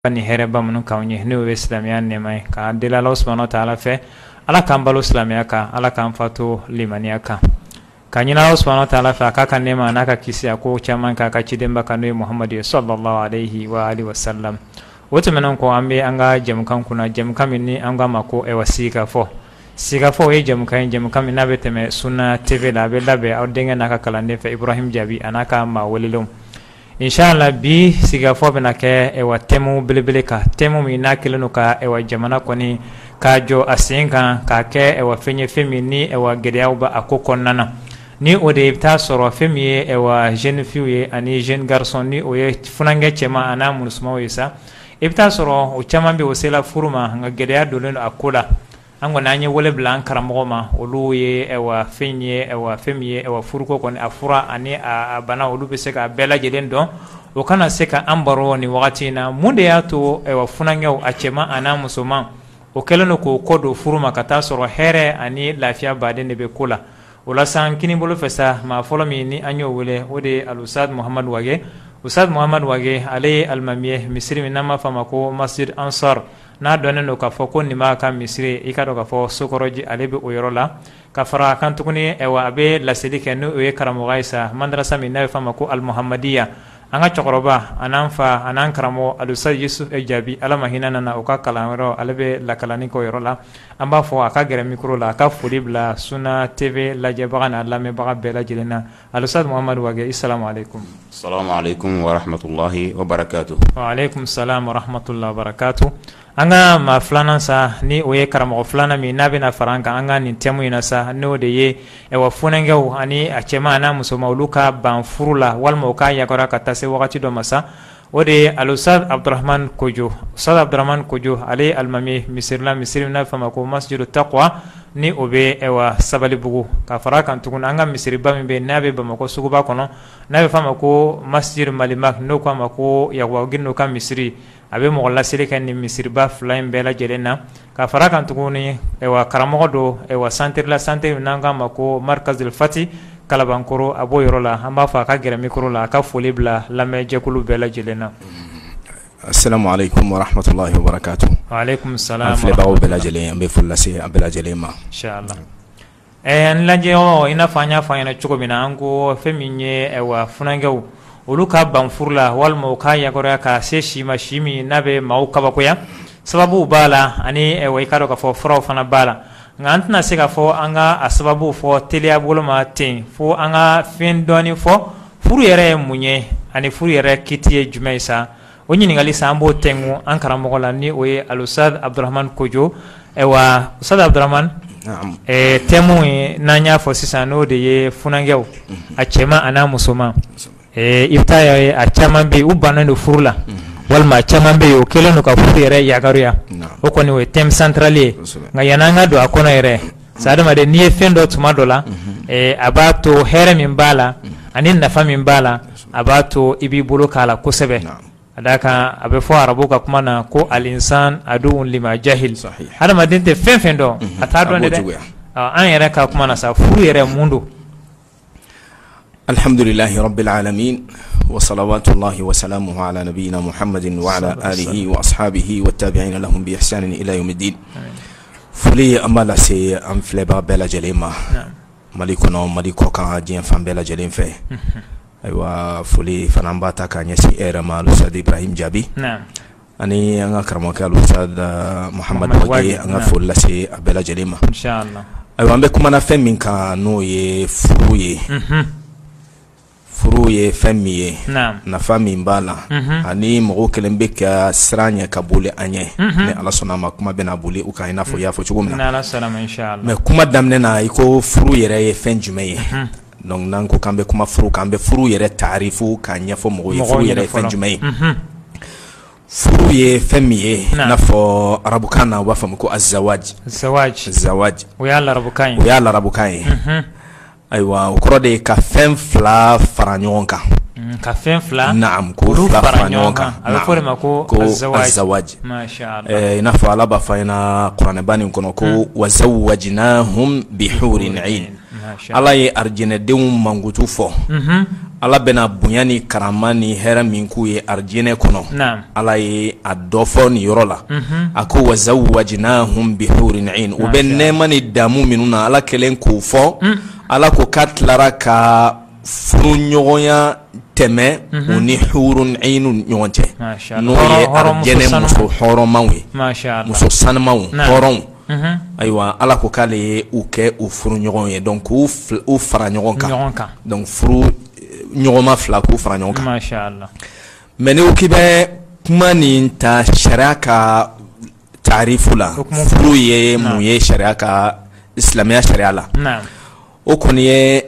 ka ni hɛrɛba minnu k'an ye n'o ye silamɛya nɛma ye ka deli ala subhanahu wa taala fɛ ala k'an balo silamɛya kan ala k'an fato limaniya kan k'a ɲini ala subhanahu wa taala fɛ a k'a ka nɛma n'a ka kisi a ko caman k'a ka cidenba kan n'o ye muhamadu ye salalahu aleyi wa salam o tɛmɛnen kɔ an bɛ an ka jɛmukan kunna jɛmukan min ni an k'a ma ko ayiwa sigikafɔ sigikafɔ o ye jɛmukan ye jɛmukan min n'a bɛ tɛmɛ suna tv la a bɛ labɛn aw denkɛ n'a ka kalanden fɛ ibrahim jaabi an'a ka maa welelenw Inshala bi sigikafɔ bɛna kɛ wa tɛmu belebele kan tɛmu min n'a kɛlen don ka jamana kɔni ka jɔ a sen kan k'a kɛ wa fɛn ye fɛn min ni wa gɛlɛyaw bɛ a ko kɔnɔna na ni o de i bɛ t'a sɔrɔ fɛn min ye wa jeune fille ye ani jeune garçon ni o ye funankɛ cɛman an'a musomanw ye sa i bɛ t'a sɔrɔ o caman bɛ o sela furu ma nka gɛlɛya donnen don a ko la an kɔni an ye wele bila an karamɔgɔw ma olu ye fɛn ye fɛn min ye furuko kɔni a fura ani a bana olu bɛ se k'a bɛɛ lajɛlen dɔn o ka na se ka an baro ni wagati in na mun de y'a to funankɛ a cɛman an'a musoman o kɛlen don k'o kɔ don furu ma ka taa sɔrɔ hɛrɛ ani lafiya baden de bɛ ko la o la sisan kini bolo fɛ sa maa fɔlɔ min ni an y'o wele o de ye alustadi muhamadu wage ustadi muhamadu wage ale ye alimami ye misiri min n'a b'a fɔ a ma ko masjidi ansari n'a dɔnnen don k'a fɔ ko nima ka misiri i ka dɔn k'a fɔ sokɔrɔji ale bɛ o yɔrɔ la ka fara a kan tuguni wa a bɛ laseli kɛ n'o ye karamɔgɔya ye sa madarasa min n'a bɛ f'a ma ko alimuhamadiya an ka cɛkɔrɔba an'an fa an'an karamɔgɔ alustadi yusufu jaabi ala ma hinɛna a na o ka kalan yɔrɔ ale bɛ lakalanni k'o yɔrɔ la an b'a fɔ a ka gɛrɛ mikoro la a ka foli bila suna tv lajɛbaga n'a lamɛnbaga bɛɛ lajɛlen na Alustadi muhamadu wage salamu alekum wa alekum salam warahmatulahi wabarakatu an ka maa filanan sa ni o ye karamɔgɔ filanan min n'a bɛna fara an kan an ka nin tɛmu in na sa n'o de ye wa funankɛw ani a cɛman n'a musoman olu ka ban furu la walima u k'a yakɔrɔya ka taa se wagati dɔ ma sa O de ye alustadi abudramani kojo ustadi abudramani kojo ale ye alimami ye misiri la misiri n'a bɛ f'a ma ko masjidi takwa ni o bɛ wa sabalibugu ka fara a kan tugun an ka misiriba min bɛ n'a bɛ bamakɔ suguba kɔnɔ n'a bɛ f'a ma ko masjidi malimagi n'o k'a ma ko yakuba gindo ka misiri a bɛ mɔgɔ laseli kɛ nin misiriba fila in bɛɛ lajɛlen na ka fara a kan tuguni wa karamɔgɔ don wa santiri la santiri min n'an k'a ma ko marikazul fati kalabankɔrɔ a b'o yɔrɔ la an b'a fɔ a ka gɛrɛ mikoro la a ka foli bila lamɛnjɛkulu bɛɛ lajɛlen na salamu alekum warahmatulahi wabarakatu wa alekum salam a filɛbaaw bɛɛ lajɛlen an bɛ foli lase a bɛɛ lajɛlen ma Ɛɛ n lajɛ ɔ i n'a fɔ an y'a fɔ ɲɛna cogo min na an ko fɛn min ye wa funankɛw olu ka ban furu la walima u k'a yakɔrɔya ka se si ma si min n'a bɛ maaw kabakoya sababuw b'a la ani wa i ka dɔn k'a fɔ furaw fana b'a la nka an tɛna se k'a fɔ an ka a sababu fɔ teliya boloma ten fo an ka fɛn dɔɔni fɔ furu yɛrɛ ye mun ye ani furu yɛrɛ kiti ye jumɛn ye sa O ɲininkali sa an b'o kɛ an karamɔgɔ la ni o ye alusitazi abuduramani kojo awa usitazi abuduramani tɛmu ye n'an y'a fɔ sisan n'o de ye funankɛw a cɛman a n'a musoman i bɛ taa a ye a caman bɛ yen u bannen don furu la walima caman bɛ yen u kɛlen don ka furu yɛrɛ yagaruya o kɔni o ye tɛmu santrali ye nka yanni an ka don a kɔnɔ yɛrɛ sa adamaden n'i ye fɛn dɔn tuma dɔ la a b'a to hɛrɛ min b'a la ani nafa min b'a la a b'a to i b'i bolo k'a la kosɛbɛ a d'a kan a bɛ fɔ arabu ka kuma na ko alinsanu aduwun lima jahila adamaden tɛ fɛn fɛn dɔn a t'a dɔn dɛ an yɛrɛ ka kuma na sa furu yɛrɛ mun don alihamdulilahi rabili alamin wasalawatulahi wasalamuhu ala nabiyina muhamadin wa ala alihi wa asihabihi wa tabiina lahum bi ihsanin ila yawumidin foli an b'a lase an filɛbaga bɛɛ lajɛlen ma mali kɔnɔ mali kɔkan diɲɛ fan bɛɛ lajɛlen fɛ ayiwa foli fana b'a ta k'a ɲɛsin e yɛrɛ ma alusitazi ibrahima jaabi ani an ka karamɔgɔkɛ alusitazi muhamadu wage an ka foli lase a bɛɛ lajɛlen ma ayiwa an bɛ kuma na fɛn min kan n'o ye furu ye furu ye fɛn min ye nafa min b'a la ani mɔgɔw kɛlen bɛ ka siran a ɲɛ ka boli a ɲɛ ni ala sɔnna a ma kuma bɛna boli u kan i n'a fɔ i y'a fɔ cogo min na mɛ kuma daminɛ na i ko furu yɛrɛ ye fɛn jumɛn ye dɔnki n'an ko k'an bɛ kuma furu k'an bɛ furu yɛrɛ tarifu k'a ɲɛfɔ mɔgɔ ye furu yɛrɛ fɛn jumɛn ye furu ye fɛn min ye n'a fɔ arabukan na u b'a fɔ ma ko azawaji o y'a arabukan ye Ayiwa o kɔrɔ de ka fɛn fila fara ɲɔgɔn kan mm, ka fɛn fila naam ko fila fara ɲɔgɔn kan a bɛ fɔ o de ma ko azawaji eh, i n'a fɔ ala b'a fɔ an ɲɛna kuranɛba nin kɔnɔ ko mm. wazawajina hum bihurin ayin ala ye arijinɛdenw mankutu fɔ mm-hmm. ala bɛna bonya ni karama ni hɛrɛ min k'u ye arijinɛ kɔnɔ Ala ye a dɔ fɔ nin yɔrɔ la a ko wazawajina hum bihurin ayin u bɛ nɛɛma ni daamu minnu na ala kɛlen k'o fɔ ala ko k'a tilara ka furuɲɔgɔnya tɛmɛ u ni hurun ayin ɲɔgɔn cɛ n'o ye arijinɛ muso hɔrɔnmaw ye muso sanumaw hɔrɔnw ayiwa ala ko k'ale ye u kɛ u furu ɲɔgɔn ye dɔnki k'u fara ɲɔgɔn kan furuɲɔgɔnma fila k'u fara ɲɔgɔn kan Mɛ n'i k'i bɛ kuma nin ta sariya ka tarifu la furu ye mun ye sariya ka silamɛya sariya la o kɔni ye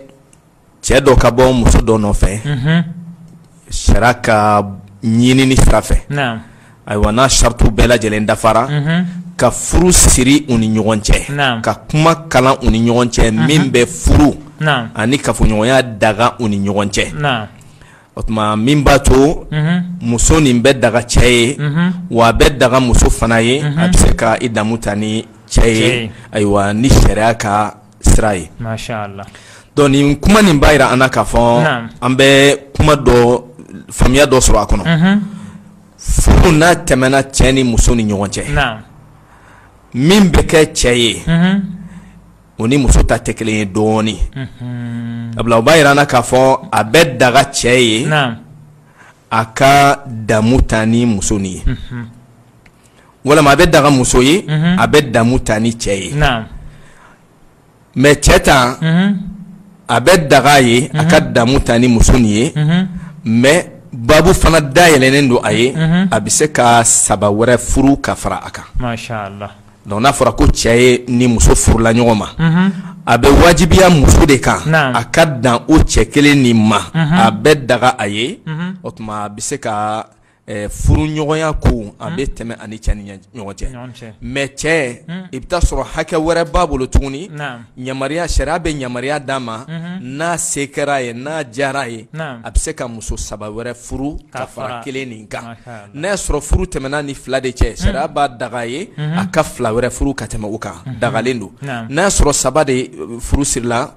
cɛ dɔ ka bɔ muso dɔ nɔfɛ sariya ka ɲinini sira fɛ ayiwa n'a saratiw bɛɛ lajɛlen dafara ka furu siri u ni ɲɔgɔn cɛ ka kuma kalan u ni ɲɔgɔn cɛ min bɛ furu ani kafoɲɔgɔnya daga u ni ɲɔgɔn cɛ o tuma min b'a to muso nin bɛ daga cɛ ye wa a bɛ daga muso fana ye a bɛ se ka i damu ta ni cɛ ye ayiwa ni sariya ka sira ye donc nin kuma nin b'a yira an na k'a fɔ an bɛ kuma dɔ faamuya dɔ sɔrɔ a kɔnɔ furu n'a tɛmɛna cɛ ni muso ni ɲɔgɔn cɛ min bɛ kɛ cɛ ye o ni muso ta tɛ kelen ye dɔɔnin sabula o b'a yira an na k'a fɔ a bɛ daga cɛ ye a ka damu ta ni muso nin ye walima a bɛ daga muso ye a bɛ damu ta ni cɛ ye mais cɛ ta a bɛ daga ye a ka damu ta ni muso nin ye mais babu fana dayɛlɛlen don a ye a bɛ se ka saba wɛrɛ furu ka fara a kan donc n'a fɔra ko cɛ ye ni muso furula ɲɔgɔn ma a bɛ wajibiya muso de kan a ka dan o cɛ kelen nin ma a bɛ daga a ye o tuma a bɛ se ka furu ɲɔgɔnya ko a bɛ tɛmɛ a ni cɛ ni ɲɔgɔn cɛ mais cɛ i bɛ taa sɔrɔ hakɛ wɛrɛ b'a bolo tuguni yamaruya sariya bɛ yamaruya d'a ma n'a se kɛra ye n'a diyara ye a bɛ se ka muso saba wɛrɛ furu ka fara kelen nin kan n'a y'a sɔrɔ furu tɛmɛna ni fila de cɛ sariya b'a daga ye a ka fila wɛrɛ furu ka tɛmɛ o kan dagalen don n'a y'a sɔrɔ saba de furu sirila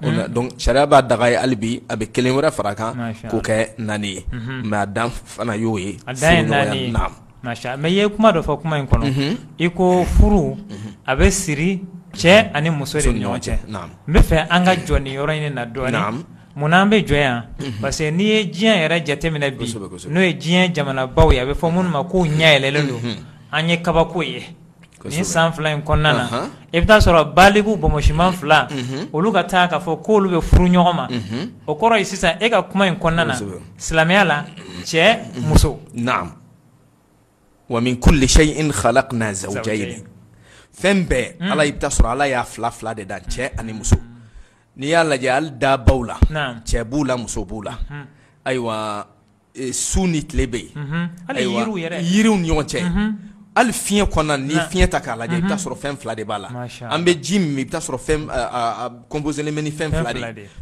sariya b'a daga ye hali bi a bɛ kelen wɛrɛ fara kan k'o kɛ naani ye mais a dan fana y'o ye mais i ye kuma dɔ fɔ kuma in kɔnɔ i ko furu a bɛ siri cɛ ani muso de ɲɔgɔn cɛ n bɛ fɛ an ka jɔ nin yɔrɔ in na dɔɔnin munna an bɛ jɔ yan parce que n'i ye diɲɛ yɛrɛ jateminɛ bi n'o ye diɲɛ jamanabaw ye a bɛ fɔ minnu ma k'u ɲɛ yɛlɛlen don an ye kabako ye nin san fila in kɔnɔna na i bɛ taa sɔrɔ baliku bonbonsiman fila olu ka taa k'a fɔ ko olu bɛ furu ɲɔgɔn ma o kɔrɔ ye sisan e ka kuma in kɔnɔna na silamɛya la cɛ muso wa min kulli shay'in khalaqna zawjayn fɛn bɛɛ ala i bɛ taa sɔrɔ ala y'a fila fila de dan cɛ ani muso n'i y'a lajɛ hali dabaw la cɛ b'u la muso b'u la ayiwa su ni tile bɛ yen yiriw ni ɲɔgɔn cɛ hali fiɲɛ kɔnɔna ni fiɲɛ ta k'a lajɛ i bɛ taa sɔrɔ fɛn fila de b'a la an bɛ ji min i b'a sɔrɔ composé ni fɛn fila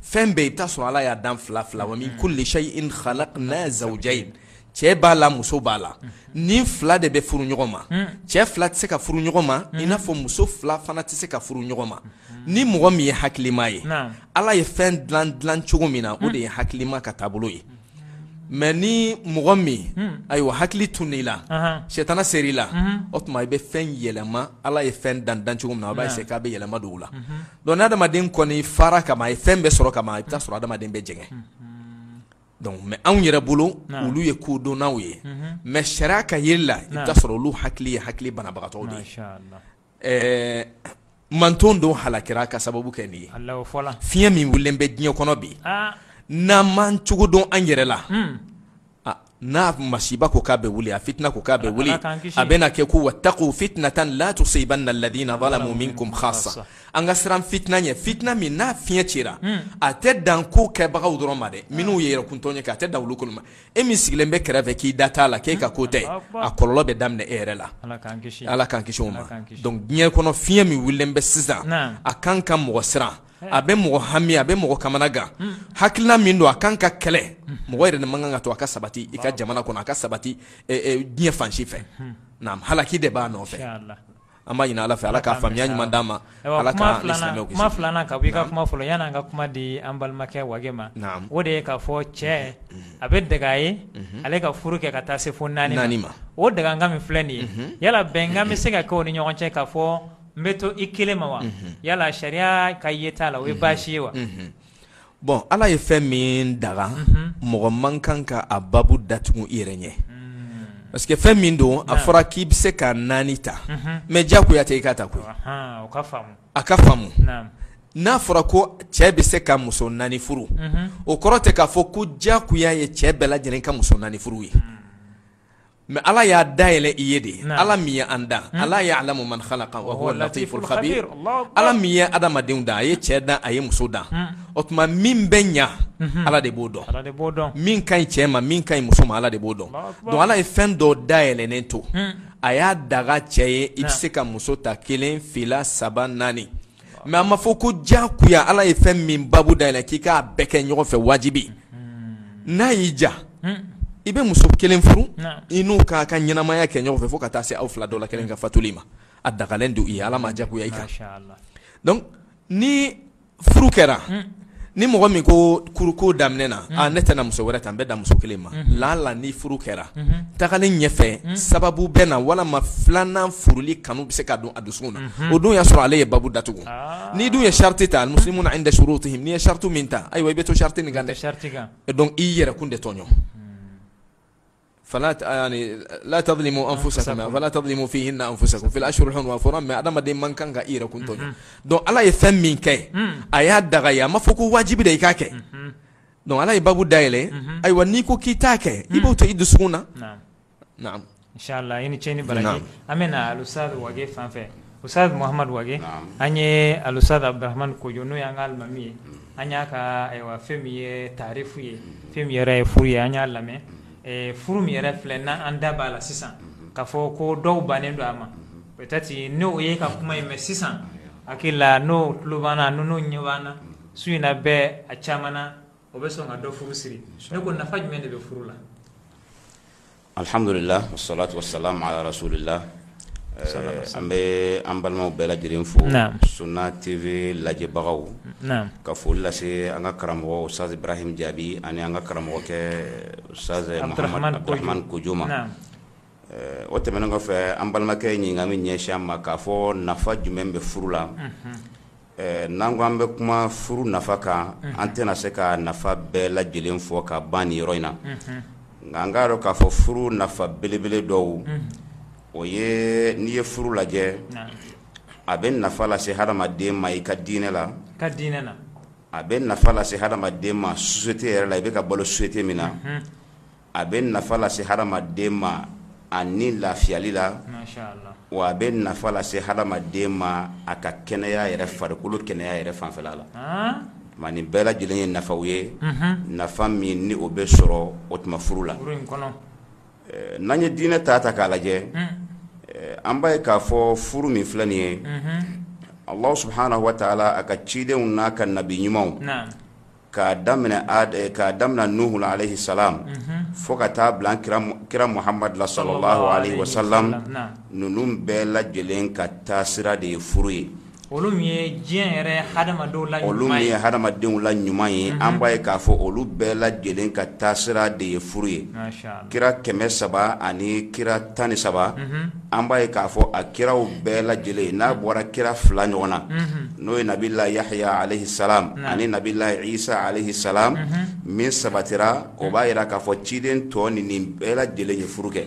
fɛn bɛɛ i bɛ taa sɔrɔ ala y'a dan fila fila wa min kulli shay'in khalaqna zawjayn cɛ b'a la muso b'a la ni fila de bɛ furu ɲɔgɔn ma cɛ fila tɛ se ka furu ɲɔgɔn ma i n'a fɔ muso fila fana tɛ se ka furu ɲɔgɔn ma ni mɔgɔ min ye hakilima ye ala ye fɛn dilan cogo min na o de ye hakilima ka taabolo ye mais ni mɔgɔ min ayiwa hakili tununn'i la sɛtana sera i la o tuma i bɛ fɛn yɛlɛma ala ye fɛn dan cogo min na a b'a essayer k'a bɛɛ yɛlɛma don o la donc n'adamaden kɔni fara ka ban a ye fɛn bɛɛ sɔrɔ ka ban i bɛ taa sɔrɔ adamaden bɛ jɛngɛ mais anw yɛrɛ bolo olu ye kodɔnnaw ye mais sariya ka jira la i bɛ taa sɔrɔ olu hakili ye hakili banabagatɔ de ɛɛ manton dɔw halakira ka sababu kɛ nin ye Alahu fɔla fiɲɛ min wulilen bɛ diɲɛ kɔnɔ bi aa n'an m'an cogo dɔn an yɛrɛ la hunn a n'a masiba ko k'a bɛ wuli a fitina ko k'a bɛ wuli Ala k'an kisi a bɛna kɛ ko watakuu fitnatan la tusibanna alladina zalamu minkum khassa an ka siran fitina ɲɛ fitina min n'a fiɲɛ cira a tɛ dan ko kɛbagaw dɔrɔn ma dɛ minnu ye yɛrɛkuntɔɲɔ kɛ a tɛ dan olu kɔni ma e min sigilen bɛ kɛrɛfɛ k'i da t'a la k'e ka ko tɛ a kɔlɔlɔ bɛ daminɛ e yɛrɛ la ala k'an kisi o ma donc diɲɛ kɔnɔ fiɲɛ min wulilen bɛ sisan a kan ka mɔgɔ siran a bɛ mɔgɔ hami a bɛ mɔgɔ kamana gan hakilina min don a kan ka kɛlɛ mɔgɔ yɛrɛ de man kan ka to a ka sabati i ka jamana kɔnɔ a ka sabati diɲɛ fan si fɛ naamu halaki de b'a nɔfɛ An b'a ɲini Ala fɛ Ala ka faamuya ɲuman d'an ma, Ala k'an ni silamɛw kisi, kuma filanan ka bɔ i ka kuma fɔlɔ la yann'an ka kuma di an balimakɛ Wage ma, naamu, o de ye k'a fɔ cɛ a bɛ daga a ye ale ka furu kɛ ka taa se fo naani ma, o dagakan min filɛ nin ye yala bɛnkan bɛ se ka kɛ u ni ɲɔgɔn cɛ k'a fɔ n bɛ to i kelen ma wa yala sariya ka yeta la o ye baasi ye wa bon ala ye fɛn min daga mɔgɔ man kan ka a babu datugu i yɛrɛ ɲɛ parce que fɛn min don a fɔra k'i bɛ se ka naani ta mais diyagoya tɛ i ka ta koyi a ka faamu n'a fɔra ko cɛ bɛ se ka muso naani furu o kɔrɔ tɛ k'a fɔ ko diyagoya ye cɛ bɛɛ lajɛlen ka muso naani furu ye mais ala y'a dayɛlɛ i ye de ala min ye an dan hmm. ala ya'lamu man khalaqa wa huwa latiful khabir ala min ye adamadenw dan a ye cɛ dan a ye muso dan hmm. o tuma min bɛ ɲa hmm. ala de b'o dɔn min ka ɲi cɛ ma min ka ɲi muso ma ala de b'o dɔn donc ala ye fɛn dɔ dayɛlɛnen to a y'a daga cɛ ye i bɛ se ka muso ta kelen fila saba naani Mais a ma fɔ ko diyagoya ala ye fɛn min babu dayɛlɛ k'i k'a bɛɛ kɛ ɲɔgɔn fɛ wajibi n'a y'i diya i bɛ muso kelen furu i n'o k'aw ka ɲɛnamaya kɛ ɲɔgɔn fɛ fo ka taa se aw fila dɔ la kelen ka fatuli ma a dagalen don i ye ala m'a diyagoya i kan donc ni furu kɛra ni mɔgɔ min ko furuko daminɛ na ne tɛna muso wɛrɛ ta n bɛ dan muso kelen ma laala ni furu kɛra tagalen ɲɛfɛ sababu bɛ na walima filanan furuli kanu bɛ se ka don a dusukun na o dun y'a sɔrɔ ale ye babu datugu n'i dun ye sarati ta muslimuna inda shurutihim n'i ye sarati min ta ayiwa i bɛ to sarati nin kan dɛ i yɛrɛ kun de tɔɲɔ fala tazlimu anfusakum fala tazlimu fihinna anfusakum fil ashhuril hurum fɔra mɛ adamaden man kan ka i yɛrɛ kun dɔn ala ye fɛn min kɛ a y'a daga a ma fɔ ko wajibi de i k'a kɛ dɔnku ala ye babu dayɛlɛ ayiwa n'i ko k'i t'a kɛ i b'o to i dusu na i ni ce i ni baraji an bɛ ustaz fan fɛ Ustaz mahamadu wage ani alustaz abdurahamani kojɔ n'o y'an ka alimami ye an y'a ka awa fɛn min ye tarifu ye fɛn min yɛrɛ ye furu ye an y'a lamɛn furu min yɛrɛ filɛ n' an da b'a la sisan k'a fɔ ko dɔw bannen don a ma pɛtɛtiri n'o ye ka kuma in mɛn sisan hakili la n'o tulo b'an na n'o ɲɛ b'an na su in na bɛɛ a caman na o bɛ sɔn ka dɔ furu siri ne ko nafa jumɛn de bɛ furu la Alihamdulila wasalatu wasalamu ala rasulilahi an bɛ an balimaw bɛɛ lajɛlen fo suna TV lajɛbagaw ka foli lase an ka karamɔgɔ ustaz ibrahim jaabi ani an ka karamɔgɔkɛ ustaz muhamadu abdurahamani kojɔ ma o tɛmɛnen kɔfɛ an balimakɛ ɲininka min ɲɛsin an ma k'a fɔ nafa jumɛn bɛ furu la N'an ko an bɛ kuma furu nafa kan an tɛna se ka nafa bɛɛ lajɛlen fɔ ka ban nin yɔrɔ in na nka an k'a dɔn k'a fɔ furu nafa belebele dɔw o ye n'i ye furu lajɛ a bɛ nafa lase hadamaden ma i ka diinɛ la ka diinɛ a bɛ nafa lase hadamaden ma sosiyete yɛrɛ la i bɛ ka balo sosiyete min na a bɛ nafa lase hadamaden ma a ni lafiyali la wa a bɛ nafa lase hadamaden ma a ka kɛnɛya yɛrɛ farikolo kɛnɛya yɛrɛ fanfɛla la ma nin bɛɛ lajɛlen ye nafaw ye nafa min ni o bɛ sɔrɔ o tuma furu la n'an ye diinɛ ta ta k'a lajɛ an b'a ye k'a fɔ furu min filɛ nin ye ala subuhanahu wa taala a ka cidenw n'a ka nabi ɲumanw k'a daminɛ k'a daminɛ nuhu aleyi salamu fo ka taa bila kira muhamadu la salalahu aleyi wa salamu ninnu bɛɛ lajɛlen ka taasira de ye furu ye olu min ye hadamadenw la ɲuman ye an b'a ye k'a fɔ olu bɛɛ lajɛlen ka taasira de ye furu ye kira kɛmɛ saba ani kira tan ni saba an b'a ye k'a fɔ a kiraw bɛɛ lajɛlen n'a bɔra kira fila ɲɔgɔn na n'o ye nabilayi yahaya aleyi salamu ani nabilayi isa aleyi salamu min sabatira o b'a yira k'a fɔ ciden tɔnin nin bɛɛ lajɛlen ye furu kɛ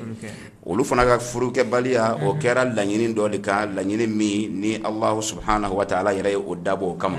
olu fana ka furukɛbaliya o kɛra laɲini dɔ de kan laɲini min ni ala subuhanahu wa taala yɛrɛ ye o dabɔ o kama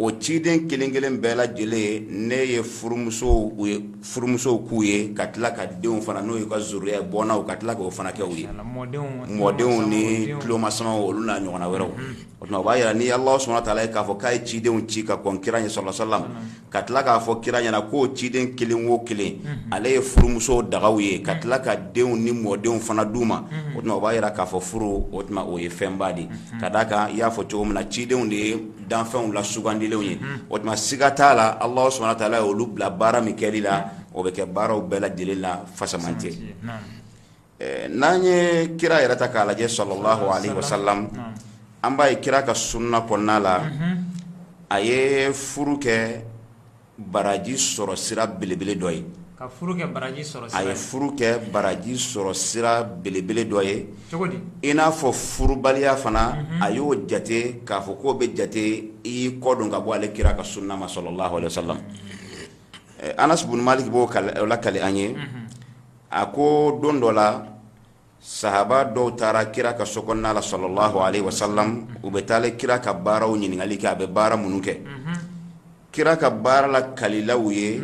o ciden kelenkelen bɛɛ lajɛlen ne ye furumuso ye furumusow k'u ye ka tila ka denw fana n'o ye ka zuriya bɔnnaw ka tila k'o fana kɛ u ye mɔdenw ni tulomasamaw olu n'a ɲɔgɔnna wɛrɛw o tuma b'a jira ni ala subhanahu wa taala k'a fɔ k'a ye cidenw ci ka kɔn kira ɲɛ sallallahu alaihi wasallam ka tila k'a fɔ kira ɲɛna k'o ciden kelen o kelen ale ye furumuso daga u ye ka tila ka denw ni mɔdenw fana d'u ma o tuma b'a jira k'a fɔ furu o tuma o ye fɛnba de ka d'a kan i y'a fɔ cogo min na cidenw de ye danfɛnw la sugandilenw ye o tuma siga t'a la ala subhanahu wa taala ye olu bila baara min kɛli la o bɛ kɛ baaraw bɛɛ lajɛlen la fasaman cɛ n'an ye kira yɛrɛ ta k'a lajɛ sallallahu alaihi wasallam an b'a ye kira ka sunna kɔnɔna la a ye furu kɛ baraji sɔrɔ sira belebele dɔ ye a ye furu kɛ baraji sɔrɔ sira belebele dɔ ye i n'a fɔ furubaliya fana a y'o jate k'a fɔ k'o bɛ jate i kɔdon ka bɔ ale kira ka sunna ma sallallahu alaihi wasallam anas bun maliki b'o lakali an ye a ko don dɔ la sahaba dɔw taara kira ka so kɔnɔna la sallallahu alaihi wasallam u bɛ taa ale kira ka baaraw ɲininkali kɛ a bɛ baara minnu kɛ mhm. kira ka baara lakalila u ye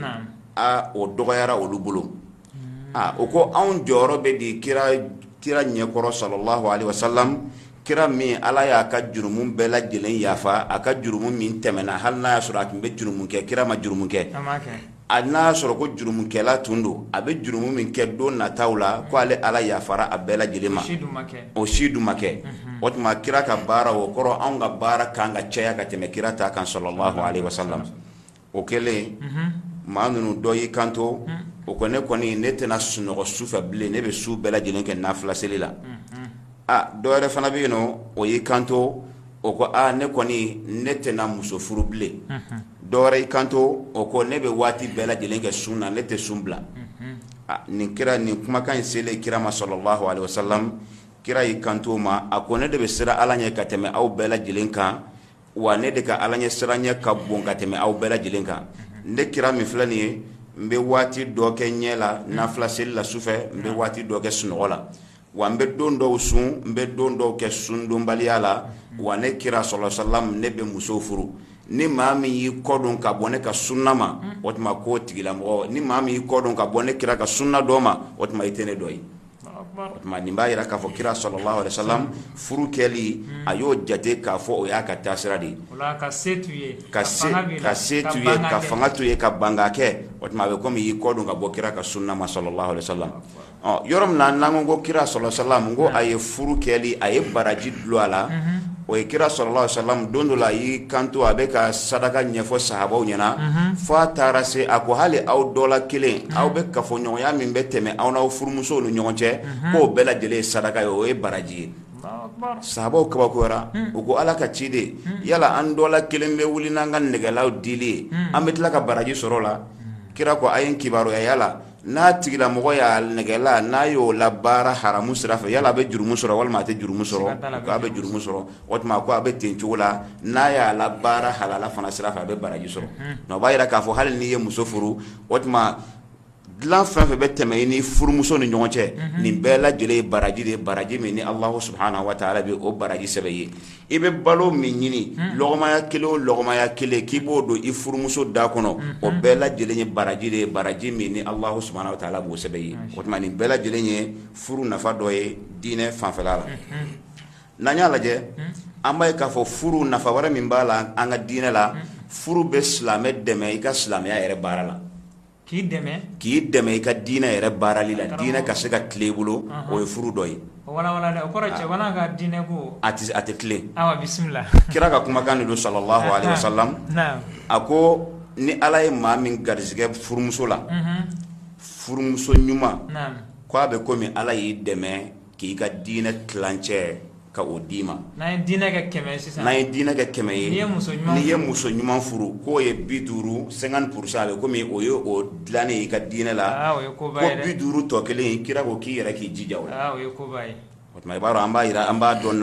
a o dɔgɔyara olu bolo mhm. a o ko anw jɔyɔrɔ bɛ di kira ɲɛkɔrɔ sallallahu alaihi wasallam kira min ala y'a ka jurumu bɛɛ lajɛlen yafa a ka jurumu min tɛmɛna hali n'a y'a sɔrɔ a tun bɛ jurumu kɛ kira ma jurumu kɛ a n'a y'a sɔrɔ ko jurumukɛla tun don a bɛ jurumu min kɛ don nataw la ko ale ala yafara a bɛɛ lajɛlen ma o si dun ma kɛ o tuma kira ka baara o kɔrɔ anw ka baara kan ka caya ka tɛmɛ kira ta kan sallallahu alaihi wasallam o kɛlen maa ninnu dɔ y'i kanto o ko ne kɔni ne tɛna sunɔgɔ su fɛ bilen ne bɛ su bɛɛ lajɛlen kɛ nafila seli la aa dɔ wɛrɛ fana bɛ yen nɔ o y'i kanto o ko aa ne kɔni ne tɛna muso furu bilen dɔ wɛrɛ y'i kanto o ko ne bɛ waati bɛɛ lajɛlen kɛ sun na ne tɛ sun bila nin kira nin kumakan in selen kira ma sallallahu alaihi wasallam kira y'i kanto o ma a ko ne de bɛ siran ala ɲɛ ka tɛmɛ aw bɛɛ lajɛlen kan wa ne de ka ala ɲɛ siran ɲɛ ka bon ka tɛmɛ aw bɛɛ lajɛlen kan ne kira min filɛ nin ye n bɛ waati dɔ kɛ ɲɛ la nafila seli la sufɛ n bɛ waati dɔ kɛ sunɔgɔ la wa n bɛ don dɔw sun n bɛ don dɔw kɛ sundonbaliya la wa ne kira sallallahu alaihi wasallam ne bɛ muso furu ni maa min y'i kɔdon ka bɔ ne ka sunna ma o tuma k'o tigilamɔgɔ ni maa min y'i kɔdon ka bɔ ne kira ka sunna dɔ ma o tuma i tɛ ne dɔ ye o tuma nin b'a jira k'a fɔ kira sallallahu alaihi wasallam furu kɛli a y'o jate k'a fɔ o y'a ka taasira de ye ka se ka fanga to i ye ka ban k'a kɛ o tuma a bɛ komi i y'i kɔdon ka bɔ kira ka sunna ma sallallahu alaihi wasallam yɔrɔ min n'an ko kira salalahu aleyihi wa salaamu ko a ye furu kɛli a ye baraji dulon a la o ye kira salalahu aleyihi wa salaamu don dɔ la a y'i kanto a bɛ ka saraka ɲɛfɔ sahabaw ɲɛna fo a taara se a ko hali aw dɔ la kelen aw bɛ kafoɲɔgɔnya min bɛ tɛmɛ aw n'aw furumuso ni ɲɔgɔn cɛ k'o bɛɛ lajɛlen ye saraka ye o ye baraji ye sahabaw kabakoyara u ko ala ka ciden yala an dɔ la kelen bɛ wuli n'an ka nɛgɛlaw dili ye an bɛ tila ka baraji sɔrɔ a la kira ko a ye n kibaruya yala n'a tigilamɔgɔ y'a nɛgɛla n'a y'o labaara haramu sira fɛ yala a bɛ jurumu sɔrɔ walima a tɛ jurumu sɔrɔ ko a bɛ jurumu sɔrɔ o tuma ko a bɛ ten cogo la n'a y'a labaara halala fana sira fɛ a bɛ baraji sɔrɔ o b'a jira k'a fɔ hali n'i ye muso furu o tuma dilan fɛn fɛn bɛ tɛmɛ i ni furumuso ni ɲɔgɔn cɛ nin bɛɛ lajɛlen ye baraji de ye baraji min ni Alahu subahana wataala bɛ o baraji sɛbɛn i ye i bɛ balo min ɲini lɔgɔmaya kelen o lɔgɔmaya kelen k'i b'o don i furumuso da kɔnɔ o bɛɛ lajɛlen ye baraji de ye baraji min ni Alahu subahana wataala b'o sɛbɛn i ye o tuma nin bɛɛ lajɛlen ye furu nafa dɔ ye diinɛ fanfɛla la n'an y'a lajɛ an b'a ye k'a fɔ furu nafa wɛrɛ min b'a la an ka diinɛ la furu bɛ silamɛ dɛmɛ i ka silamɛya yɛrɛ baara la k'i dɛmɛ i ka diinɛ yɛrɛ baarali la diinɛ ka se ka tilen i bolo o ye furu dɔ ye a tɛ tilen kira ka kumakan de don salalahu aleyihi wa salaamu a ko ni Ala ye maa min garisigɛ furumuso la furumuso ɲuman ko a bɛ komi Ala y'i dɛmɛ k'i ka diinɛ tilancɛ ka o d'i ma n'an ye diinɛ kɛ kɛmɛ sisan n'an ye diinɛ kɛ kɛmɛ ye n'i ye muso ɲuman furu k'o ye bi duuru cinquante pour cent a bɛ komi o ye o dilannen ye i ka diinɛ la ko bi duuru tɔ kelen kira ko k'i yɛrɛ k'i jija o la aa o ye koba ye o tuma i b'a dɔn an b'a jira an b'a dɔn